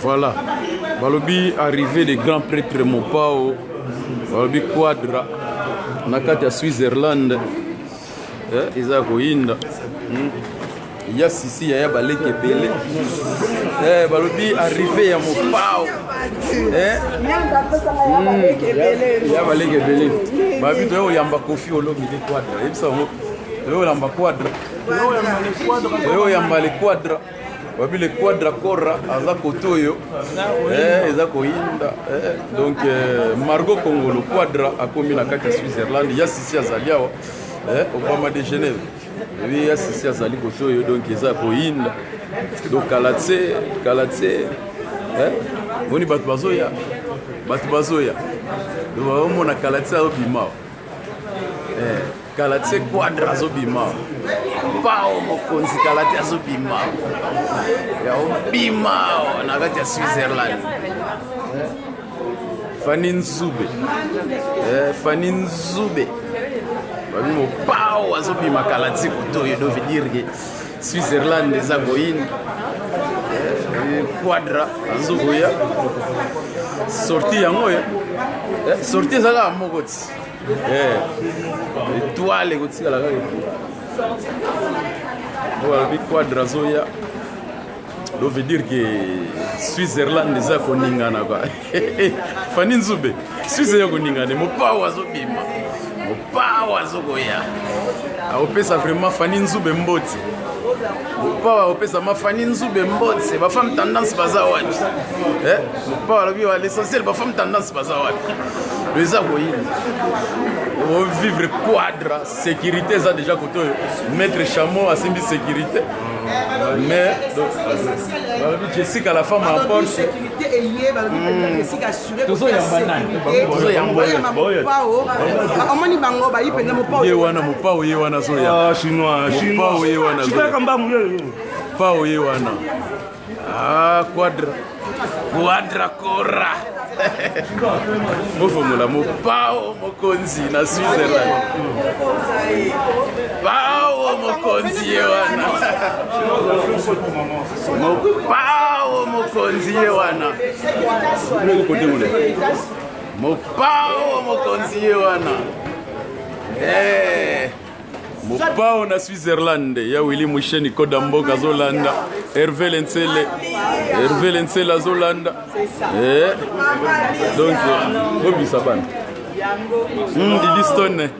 Voilà. Balobi arrivé le grand prêtre Mopao. Balobi Quadra. Na kati ya Switzerland. Eh, eza koyinda. Hmm. Ya sisi ya ya baleki ebele. Eh, balobi arrivé ya Mopao. Eh? Hmm. Ya baleki ebele. Babi toyo yamba kofi olobi de Quadra. Yebisa ngo. Toyo yamba Quadra. oyo ya mbale quadra babi le quadra corra aza kote oyo eh, eza koyinda eh, donc eh, margo congolo quadra akomi na kati ya switzerland ya sisi azali awa obama de genève ebi ya sisi azali kote oyo donc eza koyinda donc kala tse kala tse moni bato bazoya bato bazoya donc baomona kala tse azobima awa kala tse quadra azobima pao mokonzi kala te azobima ya obima na kati ya switzerland fani nzube eh, fani nzube babi mopao azobima kala tse kuto oyo dovi dire ke switzerland eza koyini eh, quadra azokoya sorti yango oyo eh, sorti eza kaka moko ti Eh, etoile ekotikala kaka oyo alobi quadre azoya lo veut dire que switzerland eza koningana kwa fani nzube swisse eza koningana mopao azobima mopao azokoya akopesa vraiment fani nzube mboti mopawa opesa mafani nzube mbotse bafemme tendance baza wapi eh, mopawa alobi wa l'essentiel bafemme tendance baza wapi eza koyina ovivre quadra sécurité eza déjà kote oyo maître chameau asimbi sécurité mais balobi jessica la femme en porte omoni bango bayi mpenza mopao ye wana mopao ye wana zoya mopao ye wana mopao ye wana ah quadra quadra cora mofongola mopao mokonzi na switzerland pao mokonzi ye wana mopao mokonzi ye wana mopao mokonzi ye wana eh. mopao na switzerland ya wili musheni koda mboka azolanda herve lensele herve lensele azolanda eh. donc obisa bana hmm, didistone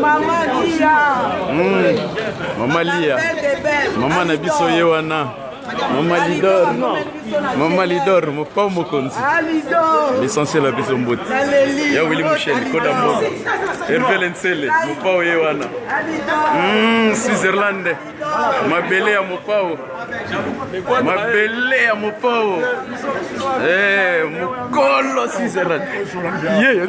Mama Lia. Mm. Mama Lia. Mama na biso ye wana. Mama Lidor. Mama Lidor, mopao mokonzi. Ah, L'essentiel ya biso mbote. Ya Willy Michel, Koda Mboka. Hervé Lensele, mopao ye wana. Mm, Switzerland. Mabele ya mopao. Mabele ya mopao. Eh, mokolo Switzerland. Yeah.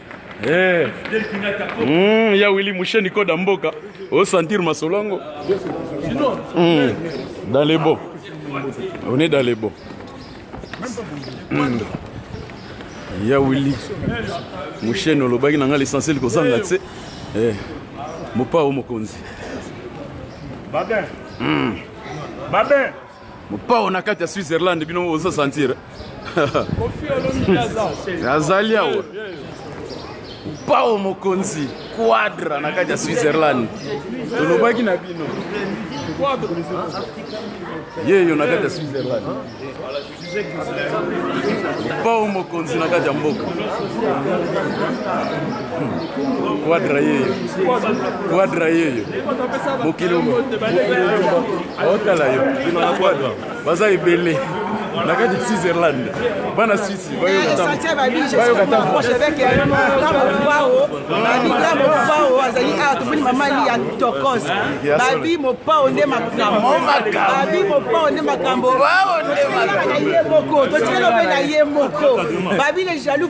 Eh. Mm, ya Willy Moucheni Koda Mboka, au sentir Masolongo. Mm. Dans les beaux. On est dans les beaux. Mm. Ya Willy Moucheni olobaki na ngai l'essentiel kozanga tse. Eh. Mopao mokonzi. Babin. Mm. Babin. mopao na kati ya switzerland bino bozo sentir azali awa mopao mokonzi quadra na kati ya switzerland tolobaki na bino yeyo na kati ya switzerland mopao mokonzi na kati ya mboka Quadra yeyo quadra yeyo mokili otala yo baza ebele na kati ya switzerland bana swisi bayokataaoao azali awa tomoni mamani ya tokos babi mopao nde makambobabi mopao nde makambo ye moko totikelo mpe na ye moko babi le jaloux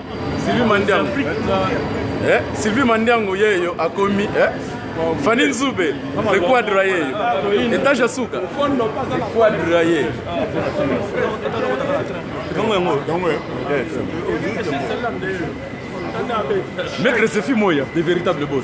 Sylvie Mandiango. Eh, Sylvie Mandiango yeyo akomi eh? Fanny Nzube, le quadra yeyo. Etage asuka. Quadra ye. Kongo yango. Kongo. Maître Sefi Moya, de véritable boss.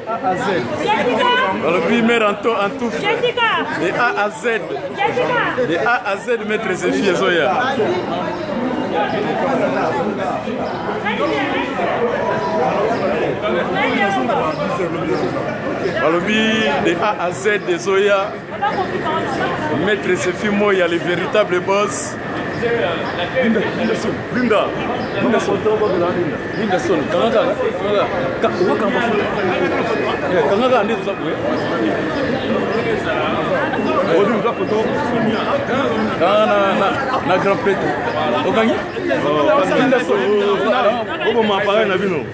balobi mare anto antufe de a a z de a a z maître zefi ezoya balobi de a a z ezoya Maître Sefi Moya, le véritable boss. Linda, Linda Son, Linda, Linda Son, Linda Son, Kanada, Kanada, Kanada, Kanada, Kanada, nde toza boye odi oza koto na grand prêtre okangi oboma appareil na bino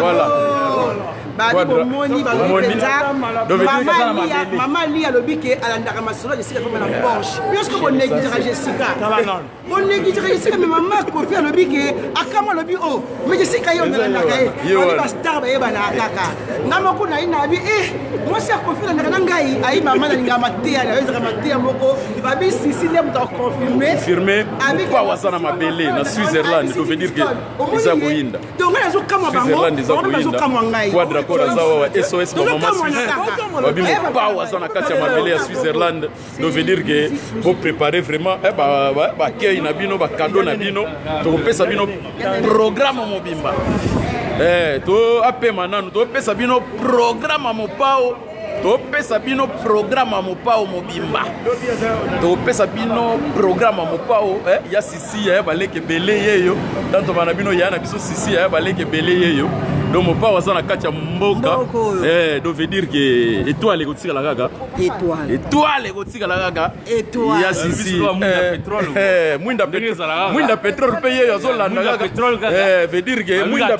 Voilà. babi bomoni balobi mpenza mama li alobi ke alandaka masolo ya jessica fama na porsche bioske bonegligaka jessica bonegligaka jessica me mama kofi alobi ke akama alobi o me jessica ye onalandaka ye oni bastar bayebanaka kaka nga moko nayi nabi e mwasi ya kofi alandaka na ngai ayi mama nalingaka mateya nayo ezaka mateya moko Babi Sisi nde moto aconfirme confirme mokwa waza na mabele na Switzerland to veut dire que eza koyinda donc ngai nazokamwa bango bazokamwa ngai quadra code aza wawa SOS ba mama Suisse babi mokwa waza na kati ya mabele ya Switzerland to veut dire que bo préparer vraiment eh, ba ba accueil na bino ba cadeau na bino tokopesa bino programme mobimba eh to apema nanu topesa bino programme mopao topesa bino programe ya mopao mobimba topesa bino programe ya mopao eh, ya sisi ya baleke ebele yeyo tantoma na bino ya na biso sisi ya baleke ebele yeyo donc mopao aza na kati ya mboka eh, donc veut dire ke etoile ekotikala kaka etoile ekotikala kaka ya sisi mwinda mwinda petrole mpe ye azolanda kaka veut dire que mwinda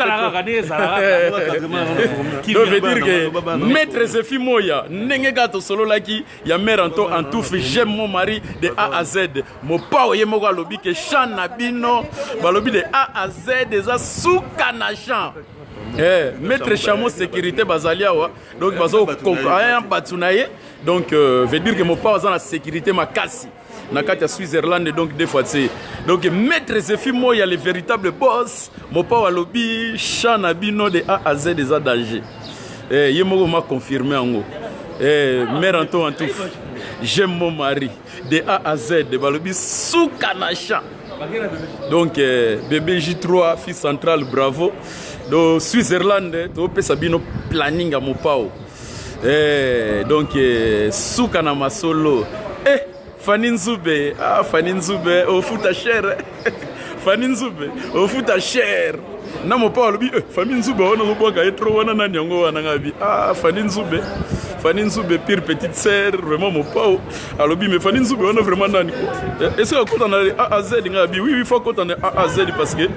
donc veut dire que maître zefi moya ndenge kaka tosololaki ya mare anto en touffe j'aime mon mari de a à z mopao ye moko alobi ke chant na bino balobi de a à z eza suka na chant Eh, maître chamo sécurité bazali awa donc bazokompaa bato na ye donc euh, veut dire que mopao aza na sécurité makasi na kati ya switzerland donc deux fois tse donc maître zefi moya le véritable boss mopao alobi champ na bino de a a z eza danger eh, ye moko ma confirme yango eh, mare anto en tout j'aime mon mari de a a z balobi suka na champ donc eh, bebe j3 fils central bravo do switzerland topesa bino planning ya mopao Eh, donc eh, suka na masolo eh, Fanny Nzube ah, Fanny Nzube ofuta oh, cher eh. Fanny Nzube ofuta oh, cher na mopao alobi eh, Fanny Nzube wana ozobwaka ye trop wana nani yango wana ngabi ah, Fanny Nzube Fanny Nzube pire petite sœur vraiment mopao alobi me fani nzube wana vraiment nani eh, esika akota na aaz nga abi oui oui faut akota na aaz parce que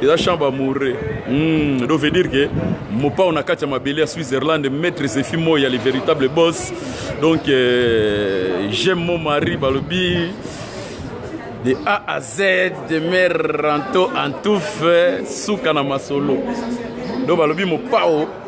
eza champ bamourre mm, donc veut dire que mopao na kati ya mabele ya switzerland maître zefi moi ya le véritable boss donc euh, j'aime mon mari balobi de a à z de mer ranto en touffe suka na masolo donc balobi mopao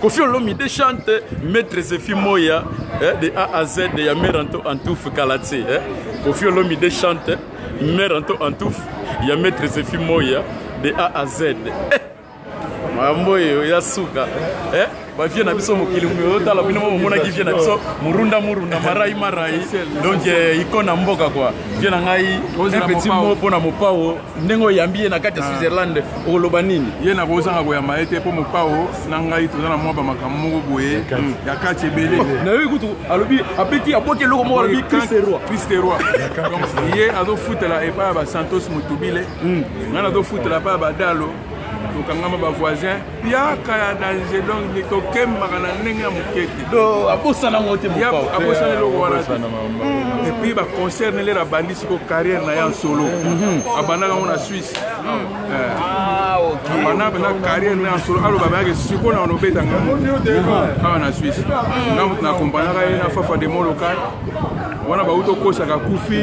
Kofi Olomide chante Maître Zefi Moya eh, de A à Z de Yamer Anto Antouf Kalatse. Eh. Kofi Olomide chante Mer Anto Antouf ya Maître Zefi Moya de A à Z. Eh. Mambo yo ya suka. Eh. bavie na biso mokili otala bino mo momonaki vie na biso murunda murunda marai marai donc eh, ikona mboka kua vie na ngai un petit mot mpo na mopao ndenge oyambi ye na kati ya ah. switzerland okoloba nini ye nakozanga koyamba ye te mpo mopao na ngai toza na mwa bamakambo moko boye ya kati hmm. ebele nayoki kutu alobi abeti abwaki eloko moko alobi kristeroi kristeroi donc ye azofutela epai ya basantos motubile hmm. ngai nazofutela epai ya badalo tokangama bavoisin Piaka ya danger donc ni kokembaka na ndenge ya moke te abosana yango te abosana eloko wana te mm. epuis baconcert nele na bandi siko carrière na ye en solo mhm. abandaka yango na suisse mm. eh. ah, abandaka mpenza carrière na ye en solo aloba bayake siko na onobeta nga mhm. awa na suisse mm. na akompagnaka ye na fafa de molokai wana bauti okosaka kufi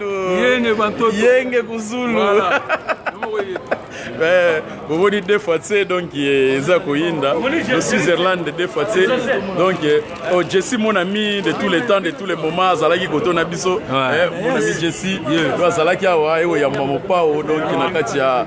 yenge bantoto yenge kuzulu voilà. boboni deux fois tse donc eh, eza koyinda le switzerland deux fois tse donc eh, oh, jessi mon ami de tous les temps de tous les moments azalaki koto na biso eh, mon ami jessi azalaki awa eoyamba mopao donc na kati ya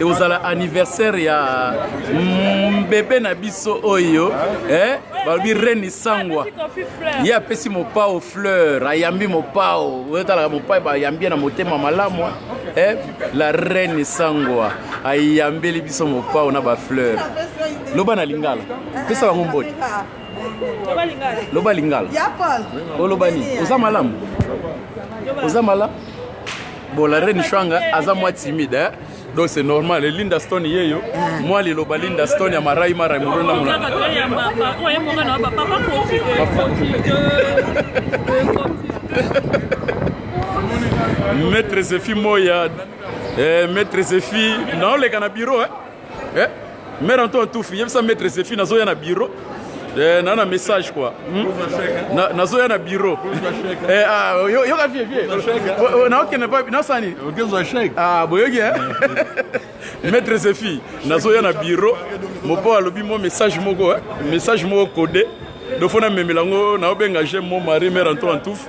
ekozala anniversaire ya mbebe na biso oyo eh? balobi reni sangwa ye apesi mopao fleur ayambi mopao otalaka mopai bayambi ye na motema malamu eh? la reni sangwa ayambeli biso mopao na bafleur loba na lingala pesa bango mbote loba lingala oloba nini oza malamu oza malamu Bon, la reine Shwanga, aza moi timide, hein? donc c'est normal eh, linda stone yeyo ah. mwa liloba linda stone ya marai mara molona molona maître zefi moya eh, maître zefi naoleka na bureau eh? eh? mère antoine tufi yebisa maître zephine azoya na bureau Eh, na na message quoi hmm? nazoya na bureau eh, ah, yoka vie vie naokende pa nasala nini ah, boyoki eh? maître zefi nazoya na bureau mopo alobi mo message moko message moko code do fo namemela yango naobenga je mo mari mare anto antuf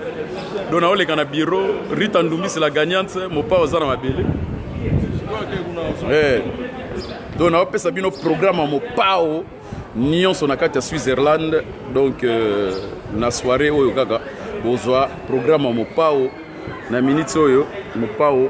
do naoleka na biro rita ndumbisi la gagnante mopao aza na mabele eh. do naopesa bino programe ya mopao nyonso na kati ya switzerland donc euh, na soirée oyo kaka bozwa programe ya mopao na miniti oyo mopao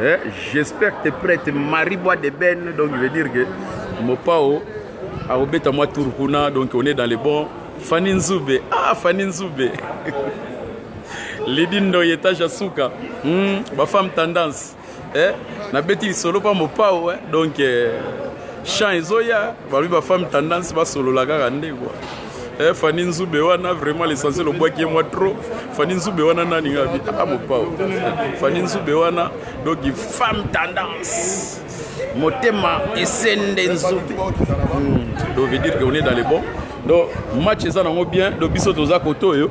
Eh, j'espère que tu es prête. Marie Bois de Ben, donc je veux dire que Mopao, Arobeta moi Turkuna, donc on est dans les bons. Fanny Nzube, ah Fanny Nzube. Lady Ndoye Tajasuka, hmm, ma femme tendance. Eh, na beti solo pa Mopao, eh, donc eh, chant ezoya, ba femme tendance ba solo la kaka ndeko. Eh, Fanny Nzube wana vraiment l'essentiel obwaki ye mwa trop Fanny Nzube wana nani nga bi ah mopao Fanny Nzube wana donc femme tendance motema esende Nzube hmm. donc veut dire que on est dans les bons donc match eza nango bien donc biso toza kote oyo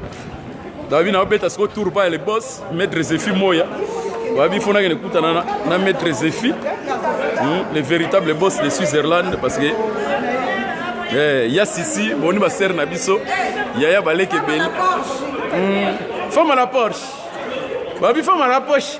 David na obeta siko tour pa le boss maître Zefi Moya. Wabi fona ke nekuta na na maître Zefi. Hmm, le véritable boss de Switzerland parce que eh ya sisi boni ba sœur na biso yaya baleke belle. Hmm, femme à la Porsche. Wabi femme à la Porsche.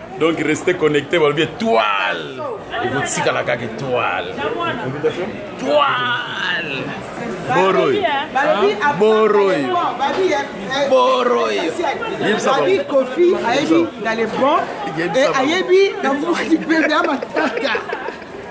donc reste connecté balobi étoile ekotikala kaka étoile étoile boroi boroi boroi yebisa bango kofi ayebi dans le bon et ayebi na mokili mpe bya matata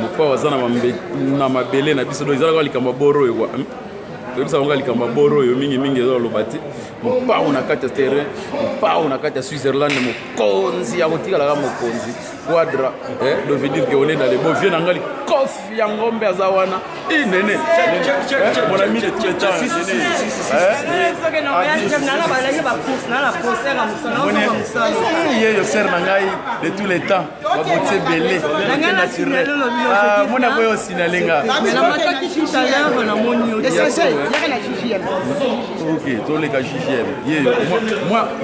mokpao aza na mabele na biso do ezalaka kaka likambo ya boro oyo kwa hmm? toyebisa bango likambo ya boro oyo mingimingi eza oloba te mopao na kati ya terrain mopao na kati ya switzerland mokonzi ya kotikalaka mokonzi quadra eh, dovedir ke olenda le bovie na ngai likofi ya ngombe aza wana inene monami yeyo ser na ngai de tous les temps baboti ebele mona boye osinale nga ok toleka ggm ye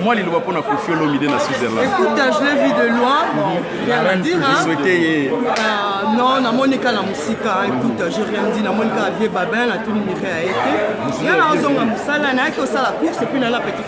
mwa liloba mpo na kofi olomide na switzerland souhaite ye non namoni ka na mosika écoute je rien dit namoni ka vie babin natuni mire ya ye te nga naozonga mosala nayaki osala course epuis nala petit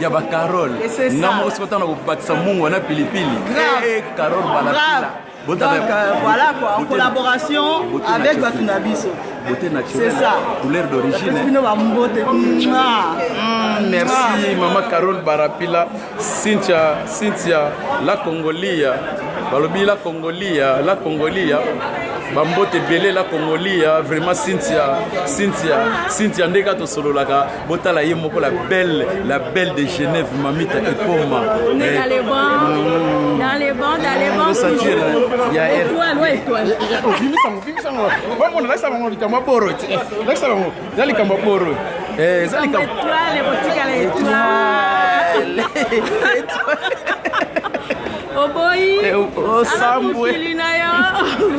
ya ba Carole nga moko siko ntango nakobakisa mungwa na pilipili eh, Carole balapila Donc, euh, voilà quoi, en collaboration avec Batunabiso. Beauté naturelle, ça. couleur d'origine. Ah. Hmm, merci ah. Maman Carole Barapila, Cynthia, Cynthia, la Congolia, balobi la Congolia, la Congolia. bambote ebele la congolia vraiment cynthia cynthia cynthia ndenge kaka tosololaka botala ye moko la belle la belle de genève mamita ekoma eza likambo ya boro eza likambo oboyi eh, osambwe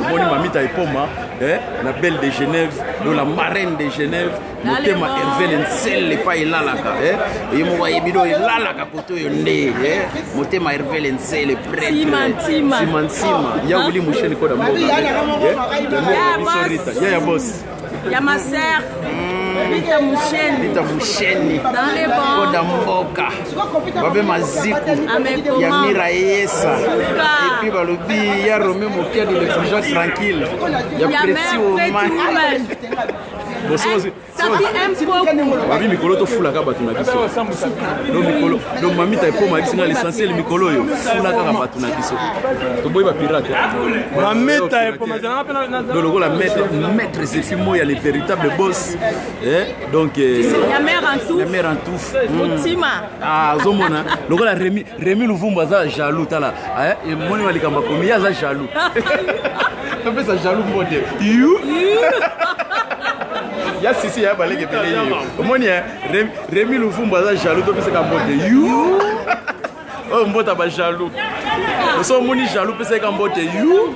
omoni mamita epoma eh, la belle de genève do la marraine de genève motema hervele nsele epai elalaka eh? ye moko ayebi do elalaka koto oyo nde eh? motema hervele nsele presimansima nsima ya wili musheni koda mboga ya ya bos ya maser Lita Musheni. Lita Musheni. Dans les bons. Koda Mboka. Babe Maziku. Ya Mira Yesa. Et puis balobi ya Romain Mokiadi le toujours tranquille. Ya Preti Oman. babi mikolo tofulaka bato na biso do mamita ekoma yebisi ngai l'essentiel mikolo oyo fula kaka bato na biso toboyi bapirate do lokola maître zefi moya le véritable boss eh, donc eh, ya mère en tout hmm. ah, azomona lokola remi Remy Luvumbu aza jaloux tala eh, eh moni malikamba komi aza jaloux topesa jaloux mbote you ya sisi ya baleke pele yo omoni eh, Remy Luvumbu aza jaloux topesaka mbote you oyo oh, mbota ba jaloux oso omoni jaloux pesaka mbote you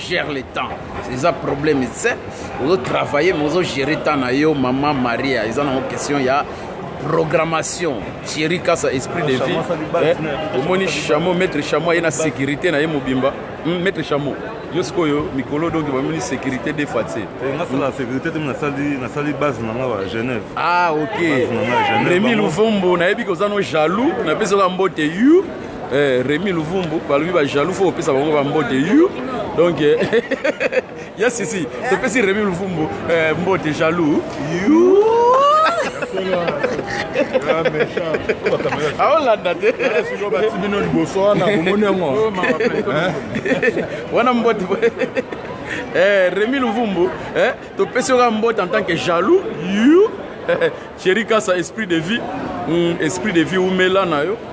Gère le temps. C'est ça problème. C'est vous travaillez, mais vous gérez temps na yo maman Maria. Ils ont une question il y a programmation Thierry Kassa esprit de vie eh, omoni chameau maître chameau aye na sécurité na ye mobimba hmm, maître chameau yo sikoyo mikolo donc bamoni sécurité de fois te eh, nasala sécurité te nasali base na nga wa genève ah ok remi luvombo nayebi koza no jaloux napesi oka mbote yu Eh, Remy Luvumbu balobi ba jaloux faut opesa bango ba mbote you donc eh, yes si si topesi Remy Luvumbu eh, mbote jaloux you aolanda ah, te bino liboso wana omoni yango oh, wana mbote eh, Remy Luvumbu eh, topesi yoka mbote en tant que jaloux you Chéri Kassa, esprit de vie, mm, esprit de vie, Oumela na yo.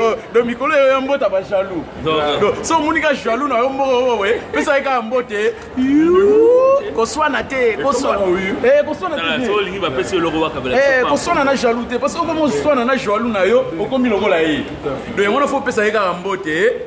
Oh, do mikolo eyo ya mbota bajaloux so omoni ka jaloux na yo moko oye pesa ye kaka mbote koswana te koswana eh, na jaloux te parce que okomi oswana na jaloux na yo okomi lokola ye do yango na fo opesa ye kaka mbote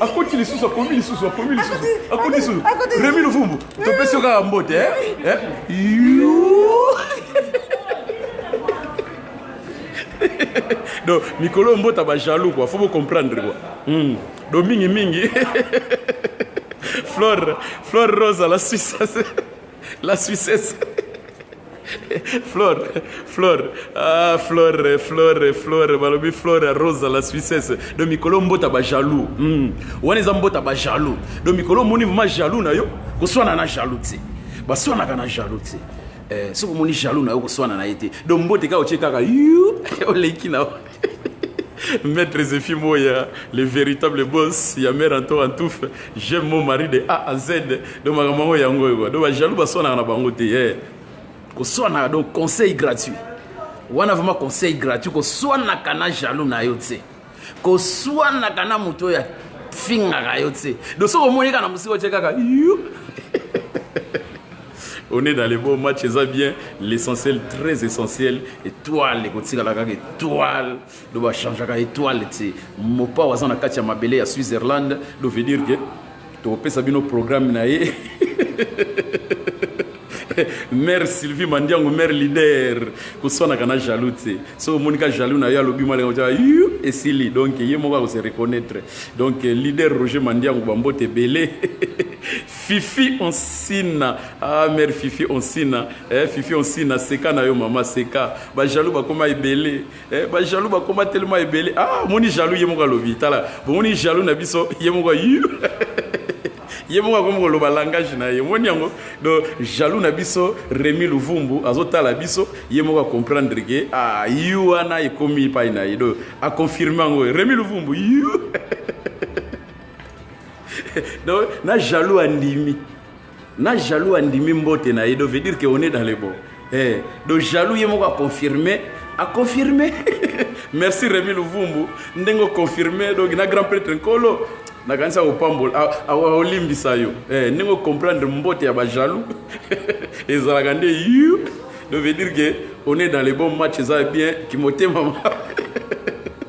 akoti lisusu akomi lisusu akomi lisusu akoti lisusu remi luvumbu topesi yo kaka mbote eh? Eh? donc mikolo oyo mbota bajaloux kua fo bocomprendre kua hmm. do mingi mingi flore flore rose la suisse la suissesse Flore, Flore, ah Flore, Flore, Flore, balobi Flore Rosa la Suissesse. Donc mikolo mbota ba jaloux. Hmm. Wana eza mbota ba jaloux. Donc mikolo moni vraiment jaloux na yo, koswana na jaloux te. Baswanaka na jaloux te. Eh, soki omoni jaloux na yo koswana na ye te. Donc mbote kaka otie kaka yu oleki na yo. Maître Zephi Moya, le véritable boss, ya mère Anto Antouf, j'aime mon mari de A à Z. Donc makambo yango yango. Donc ba jaloux ba swana na bango te. Eh. Ko swana donc conseil gratuit. Wana vraiment conseil gratuit ko swana kana jaloux na yo tse. Ko swana kana moto ya fingaka yo tse. Donc soko moni kana musiko tse kaka. On est dans le bon match, ça bien. L'essentiel, très essentiel, étoile, ekotikala kaka étoile. Do ba changer kaka étoile, tse. Mopa waza na kati ya mabele ya Switzerland, do veut dire que to pesa bino programme na ye. mère sylvie mandiango mère leader koswanaka na jaloux te soki omoni ka jaloux na yo alobi mwa lenga yu esili donc ye moko akose reconnaître donc leader roger mandiango bambote ebele Fifi Onsina ah mère Fifi Onsina eh Fifi Onsina seka na yo mama seka ba jaloux bakoma ebele eh ba jaloux bakoma tellement ebele ah moni jaloux ye moko alobi tala bo moni jaloux na biso ye moko ye moko akomi koloba langage na ye omoni yango donc jaloux na biso remi luvumbu azotala biso ye moko acomprendre ke ah, yu wana ekomi epai na ye donc aconfirme yango remi luvumbu yu donc na jaloux andimi na jaloux andimi mbote na ye donc veut dire que on est dans le bon eh, donc jaloux ye moko aconfirme aconfirme merci remi luvumbu ndenge oconfirme donc na grand prêtre nkolo nakanisa kopambola olimbisa yo eh, ndenge ocomprendre mbote ya bajaloux ezalaka nde yu donc veut dire que on est dans le bon match eza bien kimotema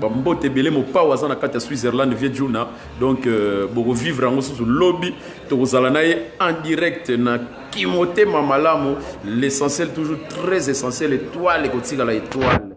bambote ebele mopao aza na kati ya switzerland vie juna donc euh, bokovivre yango susu lobi tokozala na ye en direct na kimotema malamu l'essentiel toujours très essentiel étoile ekotikala étoile